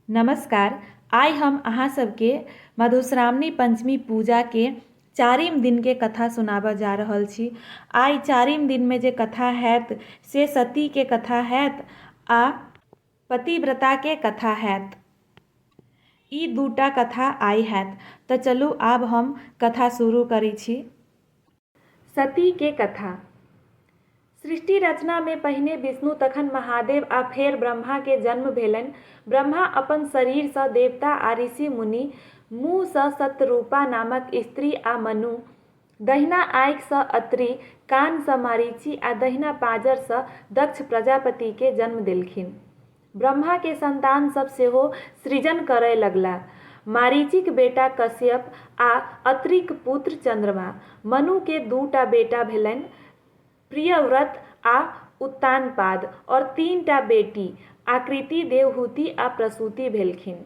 नमस्कार आइ हम अहाँ सबके मधुश्रावणी पञ्चमी पूजाके चारिम दिनके कथा सुनाबऽ जा रहल छी आइ चारिम दिनमे जे कथा हैत से सतीके कथा हैत आओर पतिव्रताके कथा हैत ई दूटा कथा आइ हैत तऽ चलू आब हम कथा शुरू करै छी सतीके कथा। सृष्टि रचनामे पहिने विष्णु, तखन महादेव आ फेर ब्रह्माके जन्म भेलनि। ब्रह्मा अपन शरीरसँ देवता आ ऋषि-मुनि, मुँहसँ शतरूपा नामक स्त्री आ मनु, दहिना आँखिसँ अत्रि, कानसँ मरीचि आ दहिना पाँजरसँ दक्ष प्रजापतिके जन्म देलखिन। ब्रह्मा के संतान सब सेहो सृजन करय लगलाह। मारीचिक बेटा कश्यप आ अत्रिक पुत्र चंद्रमा। मनु के दू टा बेटा भेलनि प्रियव्रत आ उत्तानपाद और तीन टा बेटी आकृति, देवहूति आ प्रसूति भेलखिन।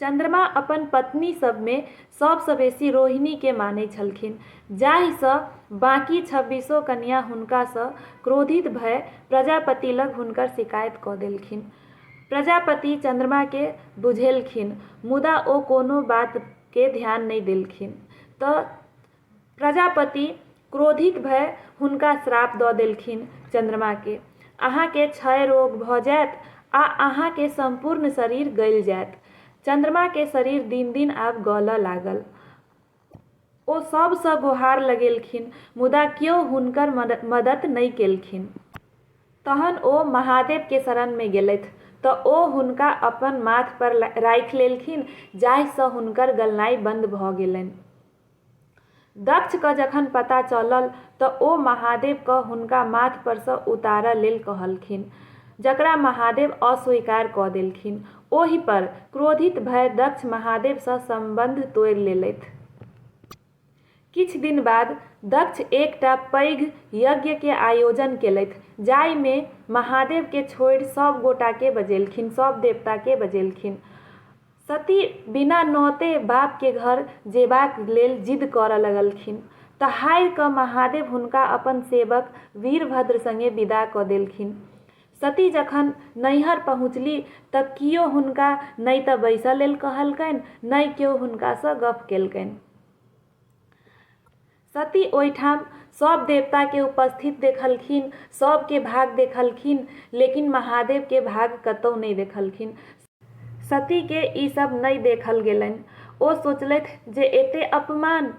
चन्द्रमा अपन पत्नी सभमे सभसँ बेसी रोहिणीकेँ मानैत छलखिन जाहिसँ बाँकी छब्बीसो कन्या हुनकासँ क्रोधित भए प्रजापति लग हुनकर शिकायत कऽ देलखिन। प्रजापति चन्द्रमाकेँ बुझेलखिन मुदा ओ कोनो बातकेँ ध्यान नहि देलखिन तँ प्रजापति क्रोधित भए हुनका श्राप दऽ देलखिन चन्द्रमाकेँ, अहाँकेँ क्षय रोग भऽ जाएत आ अहाँकेँ सम्पूर्ण शरीर गलि जाएत। चन्द्रमाकेँ शरीर दिन-दिन आब गलऽ लागल। ओ सभसँ गोहार लगेलखिन मुदा क्यो हुनकर मदत नहि केलखिन। तहन ओ महादेवकेँ शरणमे गेलथि तँ ओ हुनका अपन माथपर राखि लेलखिन जाहिसँ हुनकर गलनाइ बन्द भऽ गेलनि। दक्ष कँ जखन पता चलल त ओ महादेव कँ हुनका माथ पर सँ उतारय लेल कहलखिन, जकरा महादेव अस्वीकार कऽ देलखिन। ओहि पर क्रोधित भय दक्ष महादेव सँ सम्बन्ध तोड़ि लेलथि। किछु दिन बाद दक्ष एकटा पैघ यज्ञ के आयोजन केलथि जाहि मे महादेव के छोड़ि सभ गोटा के बजेलखिन, सभ देवता के बजेलखिन। सती बिना नौते बाप के घर जेबाक लेल जिद करऽ लगलखिन। तहारि कऽ महादेव हुनका अपन सेवक वीरभद्र संगे विदा कऽ देलखिन। सती जखन नैहर पहुँचली तऽ कियो हुनका नइ तऽ बैसऽ लेल कहलकैन नइ केओ हुनका सँ गप्प केलकैन। सती ओहिठाम सब देवता के उपस्थित देखलखिन, सब के भाग देखलखिन लेकिन महादेव के भाग कतौ नहि देखलखिन। सती के ई सब नहि देखल गेलनि। ओ सोचलथि जे एते अपमान!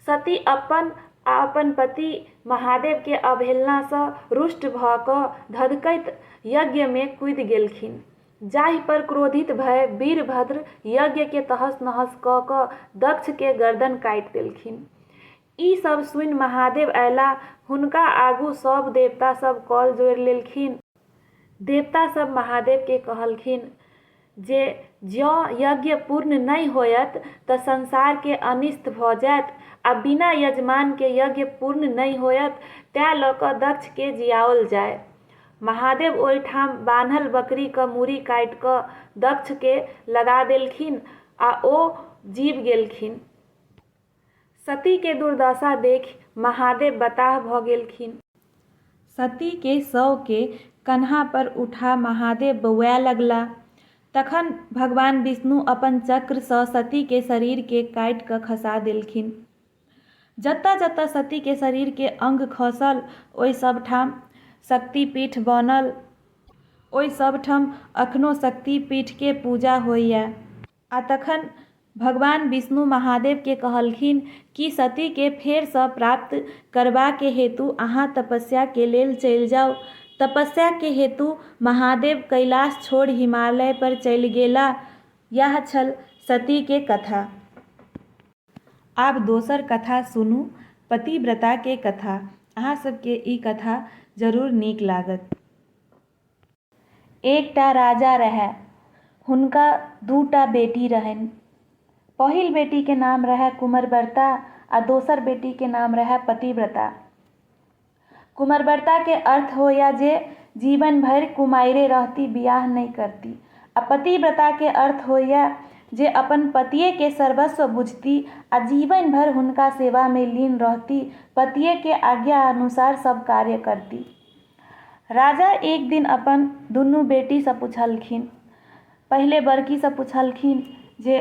सती अपन आ अपन पति महादेव के अवहेलना सँ रुष्ट भ क धधकैत यज्ञ मे कूदि गेलखिन। जाहि पर क्रोधित भए वीरभद्र यज्ञकेँ तहस-नहस कऽ कऽ दक्षकेँ गरदन काटि देलखिन। ई सभ सुनि महादेव अयलाह। हुनका आगू सभ देवता सभ कल जोड़ि लेलखिन। देवता सभ महादेवकेँ कहलखिन जे जँ यज्ञ पूर्ण नहि होयत तँ संसारकेँ अनिष्ट भऽ जायत आ बिना यजमानकेँ यज्ञ पूर्ण नहि होयत। तैँ लऽ कऽ दक्षकेँ जियाओल जाय। महादेव ओहि ठाम बान्हल बकरी क मूड़ी काटि क दक्ष के लगा देलखिन आ ओ जीब गेलखिन। सती के दुर्दशा देखि महादेव बताह भ गेलखिन। सती के शव के कन्हा पर उठा महादेव बौआए लगला। तखन भगवान विष्णु अपन चक्र सँ सती के शरीर के काटि क खसा देलखिन। जतऽ-जतऽ सती के शरीर के अंग खसल ओइ सब ठाम शक्तिपीठ बनल। ओइ सब ठम अखनो शक्तिपीठ के पूजा होइए। आ तखन भगवान विष्णु महादेव के कहलखिन कि सती के फेर सँ प्राप्त करबा के हेतु अहाँ तपस्या के लेल चलि जाउ। तपस्या के हेतु महादेव कैलाश छोड़ि हिमालय पर चलि गेलाह। यैह छल सती के कथा। आब दोसर कथा सुनू, पतिव्रता के कथा। अहाँ सब के ई कथा जरूर नीक लागत। एकटा राजा रहए। हुनका दू टा बेटी रहनि। पहिल बेटी के नाम रहए कुमरव्रता आ दोसर बेटी के नाम रहए पतिव्रता। कुमरबरता के अर्थ होइए जे जीवन भरि कुमाइरे रहती, बिआह नहि करती। आ पतिव्रता के अर्थ होइए जे अपन पतिए के सर्वस्व बुझती आ जीवन भरि हुनका सेवा मे लीन रहती, पतिए के आज्ञा अनुसार सभ कार्य करती। राजा एक दिन अपन दुनू बेटी सँ पुछलखिन। पहिले बड़की सँ पुछलखिन जे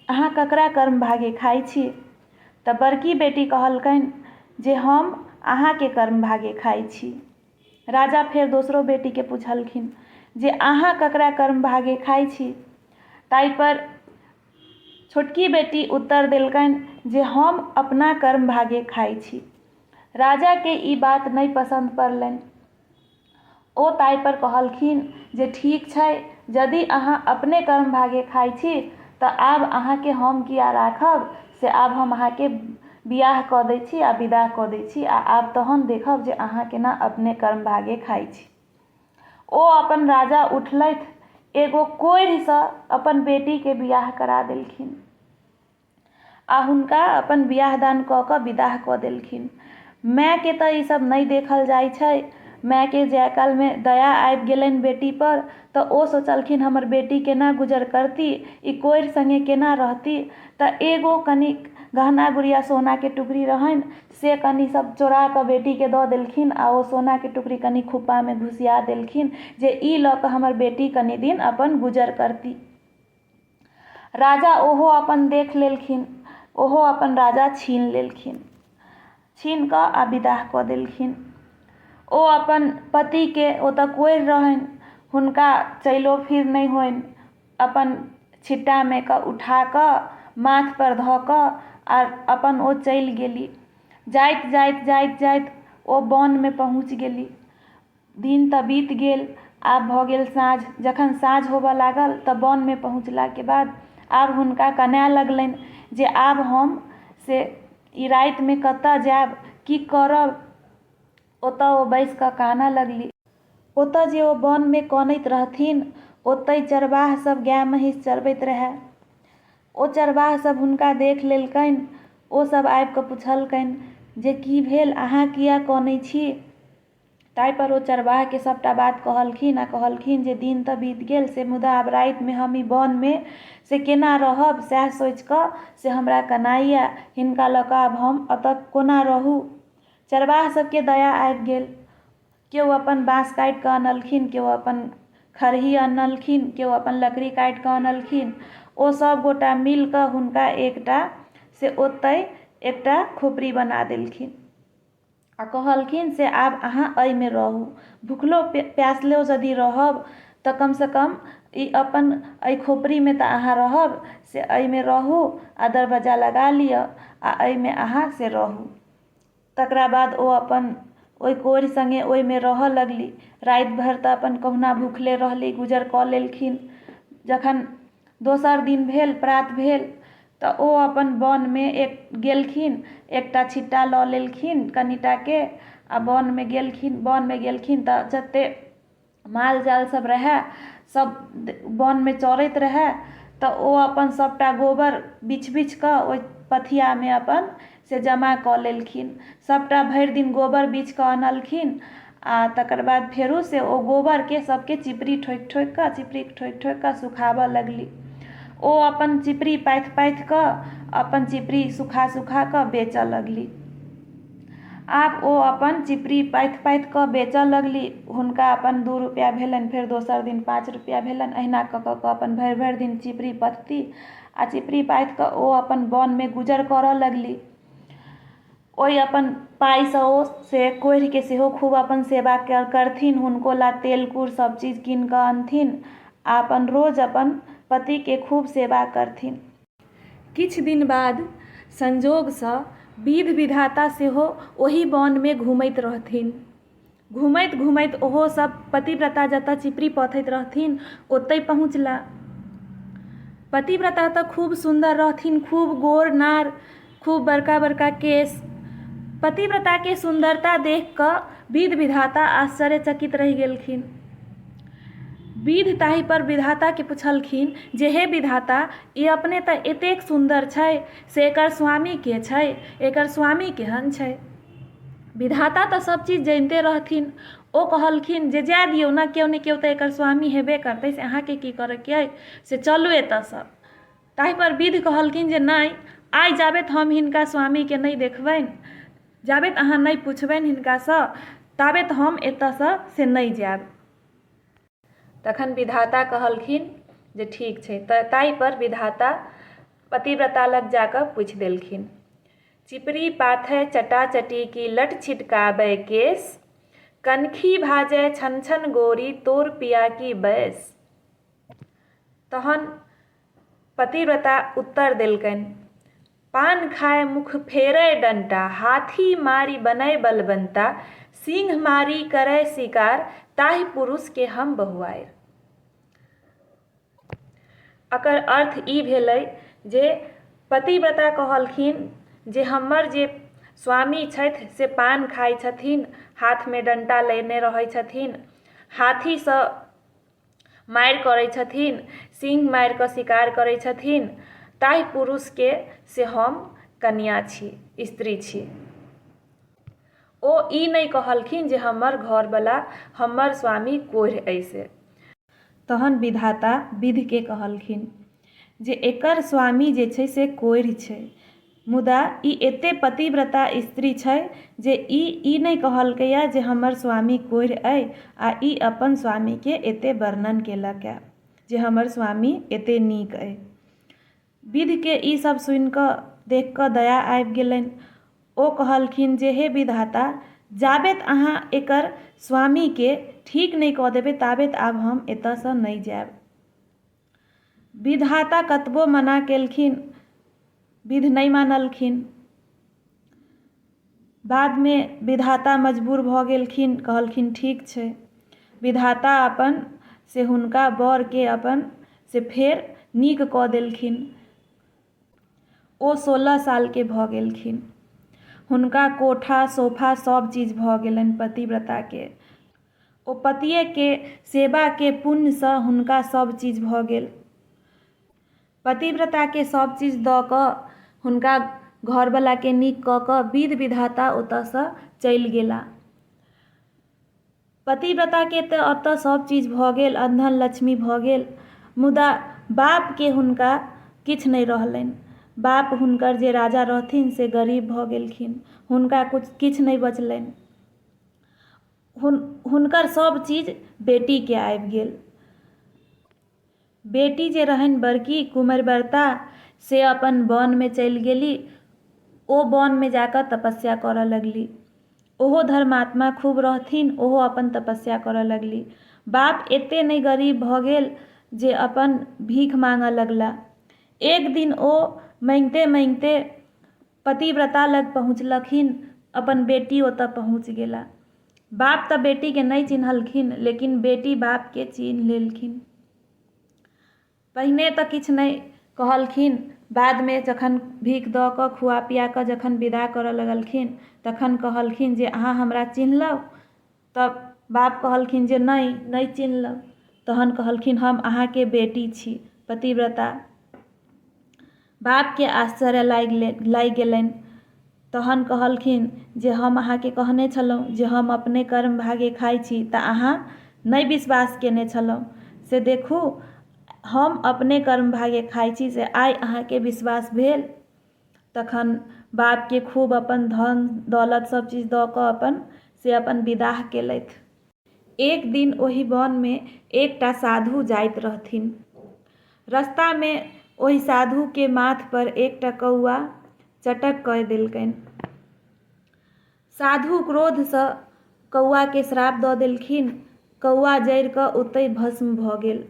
अहाँ ककरा कर्मभागे खाइ छी? त बड़की बेटी कहलकनि जे हम अहाँ के कर्म भागे खाइ छी। राजा फेर दोसरो बेटी के पुछलखिन जे अहाँ ककरा कर्म भागे खाइ छी। ताहि पर छोटकी बेटी उत्तर देलकनि जे हम अपना कर्म भागे खाइ छी। राजा के ई बात नहि पसंद पड़लनि। ओ ताहिपर कहलखिन जे ठीक छै यदि अहाँ अपने कर्मभागे खाइ छी तऽ आब अहाँके हम किए राखब से आब हम अहाँके बिआह कऽ दै छी आओर विदा कऽ दै छी आओर आब तहन देखब जे अहाँ कोना अपने कर्मभागे खाइ छी ओ अपन राजा उठलथि एगो कोढ़िसँ अपन बेटीके बिआह करा देलखिन आ हुनका अपन बिआह-दान कऽ कऽ विदाह कऽ देलखिन। माएकेँ तँ ई सभ नै देखल जाइ छै। माएकेँ जाए कालमे दया आबि गेलैन बेटीपर तँ ओ सोचलखिन हमर बेटी केना गुजर करती, ई कोइर संगे केना रहती। तँ एगो कनिक गहना-गुरिया सोनाके टुकड़ी रहैन से कनी सभ चोरा कऽ बेटीकेँ दऽ देलखिन आ ओ सोनाके टुकड़ी कनी खुप्पामे घुसिया देलखिन जे ई लऽ कऽ हमर बेटी कनी दिन अपन गुजर करती। राजा ओहो अपन देख लेलखिन ओहो अपन राजा छीन लेलखिन छीन कऽ आ विदाह कऽ देलखिन ओ अपन पतिके ओ तऽ कोरि रहनि हुनका चैलो फिर नहि होनि अपन छिट्टामे कऽ उठा कऽ माथपर धऽ कऽ आ अपन ओ चलि गेली जाइत जाइत जाइत जाइत ओ वनमे पहुँच गेली दिन तऽ बीत गेल आब भऽ गेल साँझ जखन साँझ होबऽ लागल तऽ वनमे पहुँचलाके बाद आब हुनका कनै लगलनि जे आब हम से ई रातिमे कतऽ जाएब कि करब ओतऽ ओ बैसिकऽ कानऽ लगली ओतऽ जे ओ वनमे कनैत रहथिन ओतहि चरवाहसब गाइ महिष चरबैत रहै ओ चरवाहसब हुनका देखि लेलकनि ओसब आबिकऽ पुछलकनि जे कि भेल अहाँ किएक कनै छी ताहि पर ओ चरवाह केँ सभटा बात कहलखिन आ कहलखिन जे दिन तँ बीत गेल से मुदा आब राति मे हम ई बन मे से केना रहब सएह सोचि कऽ से हमरा कनाइ यै। हिनका लऽ कऽ आब हम अतऽ कोना रहू। चरवाह सभ केँ दया आबि गेल। केओ अपन बाँस काटि कऽ अनलखिन, केओ अपन खरही अनलखिन, केओ अपन लकड़ी काटि कऽ अनलखिन। ओ सभ गोटा मिलि कऽ हुनका एकटा से ओतहि एकटा खोपड़ी बना देलखिन। आ कहलखिन से आब अहाँ अइ मे रहू। भुखलो प्यासलो जदि रहब त कम सँ कम ई अपन अइ खोपड़ी मे त अहाँ रहब से अइ मे रहू आ दरबज्जा लगा लिय आ अइ मे अहाँ से रहू। तकरा बाद ओ अपन ओइ कोढ़ि संगे ओइ मे रहऽ लगली। राति भरि त अपन कहुना भुखले रहली, गुजर क लेलखिन। जखन दोसर दिन भेल प्रात भेल तऽ ओ अपन वनमे एक गेलखिन एकटा छिट्टा लऽ लेलखिन कनिटाके आ वनमे गेलखिन वनमे गेलखिन तऽ जते माल जाल सब रहै सब वनमे चरैत रहै तऽ ओ अपन सबटा गोबर बीछ बीछके ओइ पथियामे अपन से जमा कऽ लेलखिन सबटा भरि दिन गोबर बीछ कऽ अनलखिन आओर तकर बाद फेरो से ओ गोबरके सबके चिपड़ी ठोकि ठोकिकऽ चिपड़ी ठोकि ठोकिकऽ सुखाबऽ लगली ओ अपन चिपड़ी पाथि पाथिकऽ अपन चिपड़ी सुखा सुखाकऽ बेचऽ लगली आब ओ अपन चिपड़ी पाथि पाथिकऽ बेचऽ लगली हुनका अपन दू रुपैआ भेलनि फेर दोसर दिन पाँच रुपैआ भेलनि अहिना कऽ कऽ कऽ अपन भरि भरि दिन चिपड़ी पथती आ चिपड़ी पाथि कऽ ओ अपन वनमे गुजर करऽ लगली ओहि अपन पाइसँ ओ से कोढ़िके सेहो खूब अपन सेवा करथिन हुनको लए तेल कूर सब चीज कीन कऽ अनथिन आ अपन रोज अपन पतिके खूब सेवा करथिन किछु दिन बाद संजोगसँ विध विधाता सेहो ओहि वनमे घुमैत रहथिन घुमैत घुमैत ओहो सभ पतिव्रता जतऽ चिपड़ी पथैत रहथिन ओतै पहुँचला पतिव्रता तऽ खूब सुन्दर रहथिन खूब गोर नार खूब बड़का बड़का केश पतिव्रताके सुन्दरता देख कऽ विध विधाता आश्चर्य चकित रहि गेलखिन विध ताहि पर विधाताके पुछलखिन जे हे विधाता ई अपने तऽ एतेक सुन्दर छै से एकर स्वामी के छै एकर स्वामी केहन छै विधाता तऽ सब चीज जनिते रहथिन ओ कहलखिन जे जाय दियौ ने केओ ने केओ तऽ एकर स्वामी हेबे करतै से अहाँके की करैके अइ से चलू एतऽसँ ताहिपर विध कहलखिन जे नहि आइ जाबैत हम हिनका स्वामीके नहि देखबनि जाबैत अहाँ नहि पुछबनि हिनकासँ ताबैत हम एतऽसँ से नहि जायब तखन विधाता कहलखिन जे ठीक छै तऽ ताहिपर विधाता पतिव्रता लग जा कऽ पूछि देलखिन चिपरी पाथै चटा चटी की लट छिटकाबै केस कनखी भाजै छन छन गोरी तोर पिया की बैस तहन पतिव्रता उत्तर देलकनि, पान खाय मुख फेरय डंटा, हाथी मारि बनय बलबंता, सिंह मारि करय सिकार, ताहि पुरुष के हम बहुआइर। एकर अर्थ ई भेलै जे पतिव्रता कहलखिन जे हमर जे स्वामी छथि से पान खाइ छथिन, हाथ मे डंटा लेने रहै छथिन, हाथी सँ मारि करै छथिन सिंह मारिकऽ शिकार करै छथिन ताहि पुरुषके से हम कनिआ छी स्त्री छी ओ ई नहि कहलखिन जे हमर घरवला हमर स्वामी कोढ़ि अइ से। तहन विधाता विधिके कहलखिन। जे एकर स्वामी जे छै से कोढ़ि छै। मुदा ई एते पतिव्रता स्त्री छै जे ई ई नहि कहलकैए जे हमर स्वामी कोढ़ि अइ आ ई अपन स्वामीकेँ एते वर्णन केलकए जे हमर स्वामी एते नीक अइ। विधकेँ ई सभ सुनि कऽ, देखि कऽ दया आबि गेलनि। ओ कहलखिन जे हे विधाता! जाबेत अहाँ एकर स्वामीकेँ ठीक नहि कऽ देबै ताबेत आब हम एतयसँ नहि जाएब। विधाता कतबो मना केलखिन विध नहि मानलखिन बादमे विधाता मजबूर भऽ गेलखिन कहलखिन ठीक छै विधाता अपन से हुनका बरके अपन से फेर नीक कऽ देलखिन ओ सोलह सालके भऽ गेलखिन हुनका कोठा सोफा सब चीज भऽ गेलनि पतिव्रताके ओ पतिएक सेवाके पुण्यसँ हुनका सभ चीज भऽ गेल। पतिव्रताकेँ सभ चीज दऽ कऽ हुनका घरवलाकेँ नीक कऽ कऽ विधि विधाता ओतऽसँ चलि गेला। पतिव्रताकेँ तँ ओतऽ सभ चीज भऽ गेल, अनधन लक्ष्मी भऽ गेल, मुदा बापकेँ हुनका किछु नहि रहलनि। बाप हुनकर जे राजा रहथिन से गरीब भऽ गेलखिन। हुनका किछु नहि बचलनि। हुनकर सभ चीज बेटीकेँ आबि गेल। बेटी जे रहनि बड़की कुमैरव्रता से अपन वनमे चलि गेली। ओ वनमे जा कऽ तपस्या करऽ लगली। ओहो धर्मात्मा खूब रहथिन ओहो अपन तपस्या करऽ लगली। बाप एते नहि गरीब भऽ गेल जे अपन भीख माँगऽ लगला। एक दिन ओ माँगिते माँगिते पतिव्रता लग पहुँचलखिन। अपन बेटी ओतऽ पहुँच गेला। बाप तऽ बेटी के नइ चिन्हलखिन लेकिन बेटी बाप के चिन्ह लेलखिन। पहिने तऽ किछ नइ कहलखिन बाद मे जखन भीख दऽ कऽ खुआ पिया कऽ जखन विदा करऽ लगलखिन तखन कहलखिन जे अहाँ हमरा चिन्हलहुँ? तऽ बाप कहलखिन जे नहि नहि चिन्हलक तहन कहलखिन हम अहाँके बेटी छी पतिव्रता बापके आश्चर्य लागि ले लागि गेलनि तहन कहलखिन जे हम अहाँके कहने छलहुँ जे हम अपने कर्म भागे खाइ छी तऽ अहाँ नहि विश्वास केने छलहुँ से देखू हम अपने कर्म भागे खाइ छी से आइ अहाँके विश्वास भेल तखन बापके खूब अपन धन दौलत सब चीज दऽ कऽ अपन से अपन विदाह केलथि। एक दिन ओहि वनमे एकटा साधु जाइत रहथिन। रस्तामे ओहि साधुके माथ पर एकटा कौआ चटक कय देलकैन। साधु क्रोधसँ कौआके श्राप दऽ देलखिन। कौआ जरि कऽ ओतहि भस्म भऽ गेल।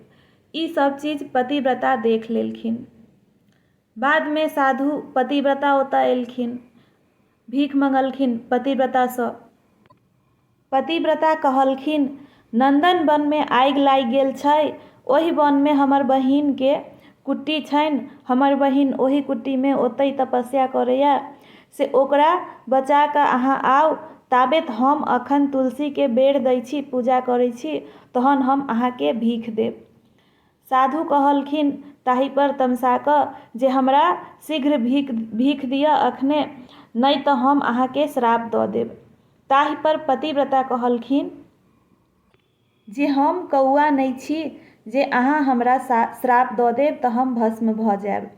ई सब चीज पतिव्रता देख लेलखिन। बादमे साधु पतिव्रता ओतऽ अएलखिन। भीख मंगलखिन पतिव्रतासँ। पतिव्रता कहलखिन नन्दन बनमे आगि लागि गेल छै। ओहि बनमे हमर बहिनके कुटी छनि। हमर बहिन ओहि कुटीमे ओतहि तपस्या करैए। से ओकरा बचा कऽ अहाँ आउ। ताबेत हम अखन तुलसीके बेर दै छी, पूजा करै छी। तहन हम अहाँके भीख देब। साधु कहलखिन ताहिपर तमसा कऽ जे हमरा शीघ्र भीख भीख दिअ अखने नहि तऽ हम अहाँकेँ श्राप दऽ देब। ताहिपर पतिव्रता कहलखिन जे हम कौआ नहि छी जे अहाँ हमरा श्राप दऽ देब तऽ हम भस्म भऽ जाएब।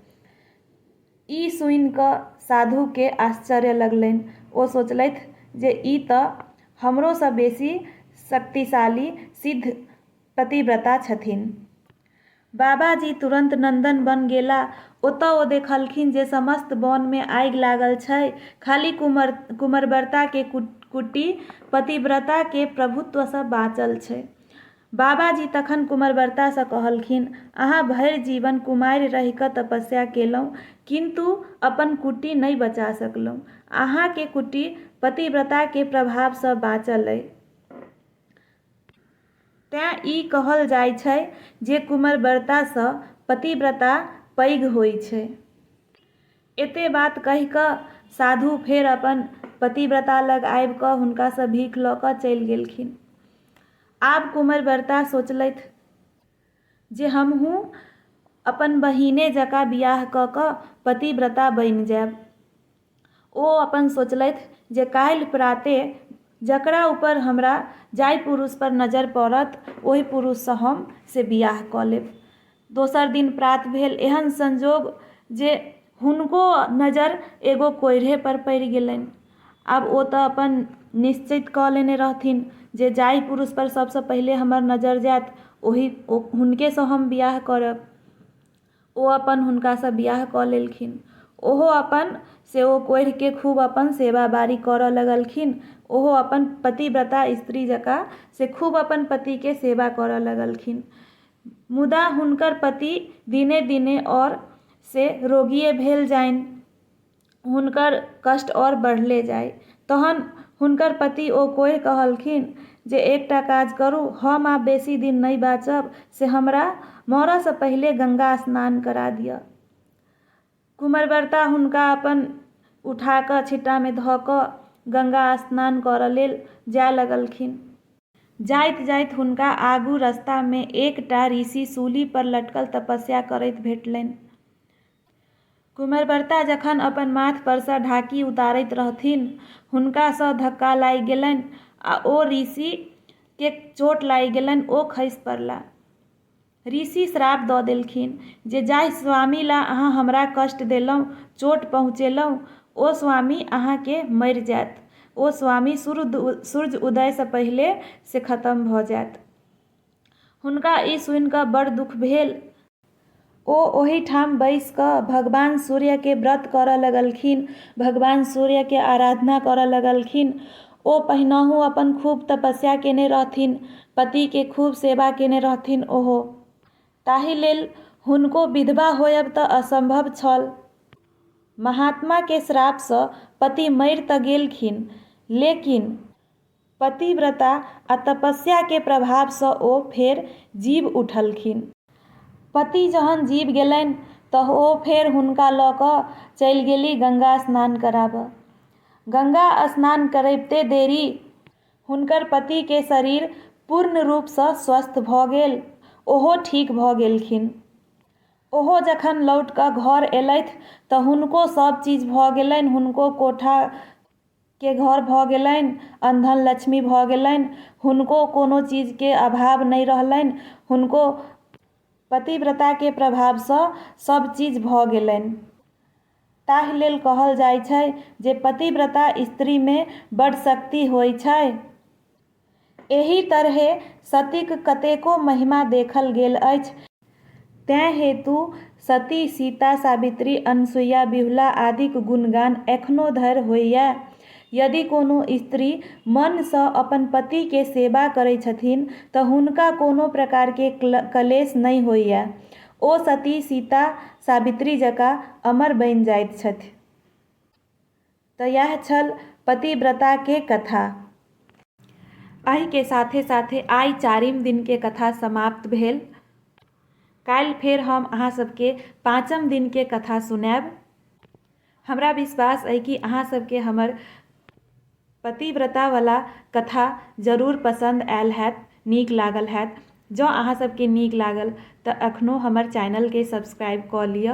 ई सुनि कऽ साधुकेँ आश्चर्य लगलनि। ओ सोचलथि जे ई तऽ हमरोसँ बेसी शक्तिशाली सिद्ध पतिव्रता छथिन। बाबाजी तुरन्त नन्दनवन गेला। ओतऽ ओ देखलखिन जे समस्त वनमे आगि लागल छै। खाली कुमरव्रताके कुटी पतिव्रताके प्रभुत्वसँ बाँचल छै। बाबाजी तखन कुमरव्रतासँ कहलखिन, अहाँ भरि जीवन कुमारि रहि कऽ तपस्या केलहुँ किन्तु अपन कुटी नहि बचा सकलहुँ। अहाँके कुटी पतिव्रताके प्रभावसँ बाँचल अइ। तेँ ई कहल जाइ छै जे कुमरबरतासँ पतिव्रता पैघ होइ छै। एते बात कहि कऽ साधु फेर अपन पतिव्रता लग आबि कऽ हुनकासँ भीख लऽ कऽ चलि गेलखिन। आब कुमरबरता सोचलथि जे हमहूँ अपन बहिने जकाँ बिआह कऽ कऽ पतिव्रता बनि जाएब। ओ अपन सोचलथि जे काल्हि प्राते जकरा ऊपर हमरा जाहि पुरुष पर नजर पड़त ओहि पुरुष सँ हम से विआह कऽ लेब। दोसर दिन प्रात भेल। एहन संजोग जे हुनको नजर एगो कोइढ़े पर पड़ि गेलनि। आब ओ तँ अपन निश्चित कऽ लेने रहथिन जे जाहि पुरुष पर सबसँ पहिले हमर नजर जायत ओहि हुनके सँ हम विआह करब। ओ अपन हुनकासँ विवाह कऽ लेलखिन ओहो अपन से ओ कोढ़िके खूब अपन सेवा बारी करऽ लगलखिन ओहो अपन पतिव्रता स्त्री जकाँ से खूब अपन पतिके सेवा करऽ लगलखिन मुदा हुनकर पति दिने दिने आओर से रोगिये भेल जाइन हुनकर कष्ट आओर बढ़ले जाइ तहन हुनकर पति ओ कोढ़ि कहलखिन जे एकटा काज करू हम आब बेसी दिन नहि बाँचब से हमरा मरऽसँ पहिले गंगा स्नान करा दिअ कुमरव्रता हुनका अपन उठाकऽ छिट्टामे धऽ कऽ गंगा स्नान करऽ लेल जाय लगलखिन जाइत जाइत हुनका आगू रस्तामे एकटा ऋषि सूलीपर लटकल तपस्या करैत भेटलनि। कुमैरबर्ता जखन अपन माथ पर सँ ढाकी उतारैत रहथिन हुनका सँ धक्का लागि गेलनि आ ओ ऋषि केँ चोट लागि गेलनि ओ खसि पड़ला। ऋषि श्राप दऽ देलखिन जे जाहि स्वामी ला अहाँ हमरा कष्ट देलहुँ, चोट पहुँचेलहुँ, ओ स्वामी अहाँ केँ मरि जायत। ओ स्वामी सूर्य उदय सँ पहिले से खतम भऽ जायत। हुनका ई सुनि कऽ बड़ दुःख भेल। ओ ओहि ठाम बैस कऽ भगवान सूर्य के व्रत करऽ लगलखिन। भगवान सूर्य के आराधना करऽ लगलखिन। ओ पहिनहुँ अपन खूब तपस्या केने रहथिन। पति के खूब सेवा केने रहथिन ओहो। ताहि लेल हुनको विधवा होयब तऽ असंभव छल। महात्मा के श्राप सँ पति मरि तऽ गेलखिन लेकिन। पतिव्रता आ तपस्या के प्रभाव सँ ओ फेर जीब उठलखिन। पति जहन जीब गेलनि तह ओ फेर हुनका लऽ कऽ चलि गेली गंगा स्नान कराबऽ। गंगा स्नान करैबते देरी हुनकर पति के शरीर पूर्ण रूप सँ स्वस्थ भऽ गेल। ओहो ठीक भऽ गेलखिन। ओहो जखन लौट कऽ घर एलथि तँ हुनको सभ चीज भऽ गेलनि। हुनको कोठा के घर भऽ गेलनि, अनधन लक्ष्मी भऽ गेलनि। हुनको कोनो चीज के अभाव नहि रहलनि। हुनको पतिव्रता के प्रभाव सँ सब चीज भऽ गेलनि। ताहि लेल कहल जाइ छै जे पतिव्रता स्त्री मे बड शक्ति होइ छै। एहि तरहें सतीक कतेको महिमा देखल गेल अछि। तेँ हेतु सती, सीता, सावित्री, अनसुइया, विहुला आदिक गुणगान एखनो धरि होइए। यदि कोनो स्त्री मनसँ अपन पतिकेँ सेवा करै छथिन तँ हुनका कोनो प्रकारकेँ कलेश नहि होइए। ओ सती, सीता, सावित्री जकाँ अमर बनि जाइत छथि। त यैह छल पतिव्रता के कथा। अहि के साथे-साथे आइ चारिम दिन के कथा समाप्त भेल। काल्हि फेर हम अहां सब के पांचम दिन के कथा सुनैब। हमरा विश्वास अइ कि अहां सब के हमर पतिव्रता वला कथा जरूर पसंद आयल हैत, नीक लागल हैत। जं अहां सब के नीक लागल त अखनो हमर चैनल के सब्सक्राइब क लिअ।